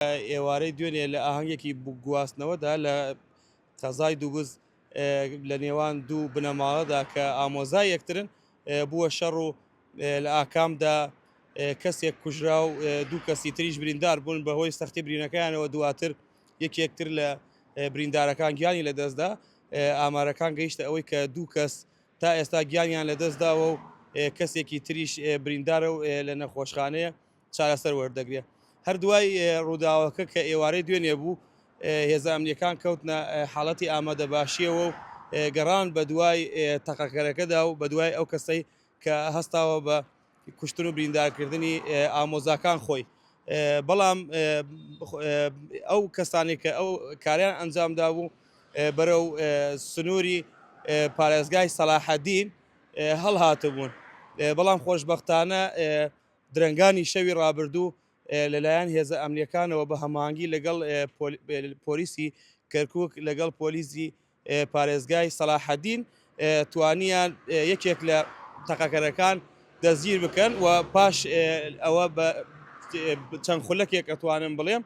ئێوارەی دوێنێ لە ئاهەنگێکی گواستنەوەدا لە قەزای دووگز لە نێوان دوو بنەماڵەدا کە ئامۆزای یەکترن بووە شەڕ و لە ئاکامدا کەسێک کوژرا و دوو کەسی تریش بریندار بوون بەهۆی سەختی برینەکانەوە دواتر یەک یەکتر لە بریندارەکان گیانی لە دەستدا ئامارەکان گەیشتە ئەوەی کە دوو کەس تا ئێستا گیانیان لە دەستداوە و کەسێکی تریش بریندارە و لە نەخۆشخانەیە چارەسەر وەردەگرێت. هەر دوای رووداوەکە کە ئێوارەی دوێنێ بوو، هێزە ئەمنییەکان کەوتنە حاڵەتی ئامادەباشییەوە و گەڕان بە دوای تەقەکەرەکەدا و بە دوای ئەو کەسەی کە هەستاوە بە کوشتن و بریندارکردنی ئامۆزاکان خۆی. بەڵام ئەو کەسانەی کە ئەو کاریان ئەنجام دابوو بەرەو سنووری پارێزگای سەلاحەدین هەڵهاتبوون، بەڵام خۆشبەختانە درەنگانی شەوی رابردوو لەلایەن هێزە ئەمنییەکانەوە بە هەماهەنگی لەگەڵ پۆلیسی کەرکووک لەگەڵ پۆلیسی پارێزگای سەڵاحەدین توانیان یەکێک لە تەقەکەرەکان دەستگیر بکەن و پاش ئەوە بە چەند خولەکێک ئەتوانم بڵێم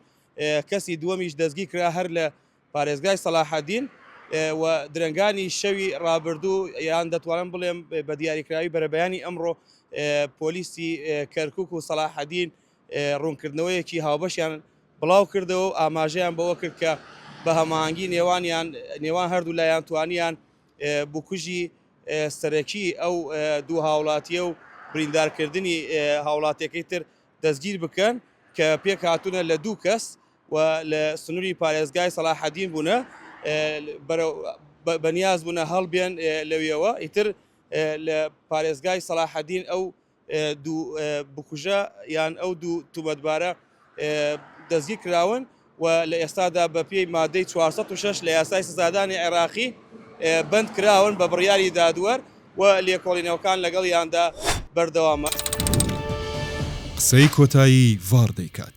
کەسی دووەمیش دەستگیر کرا هەر لە پارێزگای سەلاحەدین و درەنگانی شەوی ڕابردوو یان دەتوانم بڵێم بە دیاریکراوی بەرەبەیانی ئەمڕۆ پۆلیسی کەرکک و سەلاحەدین ڕوونکردنەوەیەکی هاوبەشیان بڵاو کردەوە و ئاماژەیان بەوە کرد کە بە هەماهەنگی نێوانیان نێوان هەردوو لایان توانیان بکوژی سەرەکی ئەو دوو هاوڵاتیە و بریندارکردنی هاوڵاتیەکەی تر دەستگیر بکەن کە پێک هاتوونە لە دوو کەس و لە سنوری پارێزگای سەڵاحەدین بوونە بەرەو بە نیاز بوونە هەڵبێن لەویەوە ئیتر لە پارێزگای سەڵاحەدین ئەو دوو بکوژە یان ئەو دوو توبەتبارە دەستگیر کراون و لە ئێستادا بە پێی مادەی 406 لە یاسای سزادانی عێراقی بند کراون بە بڕیاری دادوەر و لێکۆڵینەوەکان لەگەڵیاندا بەردەوامە. قسەی کۆتایی ڤاڕ دەیکات.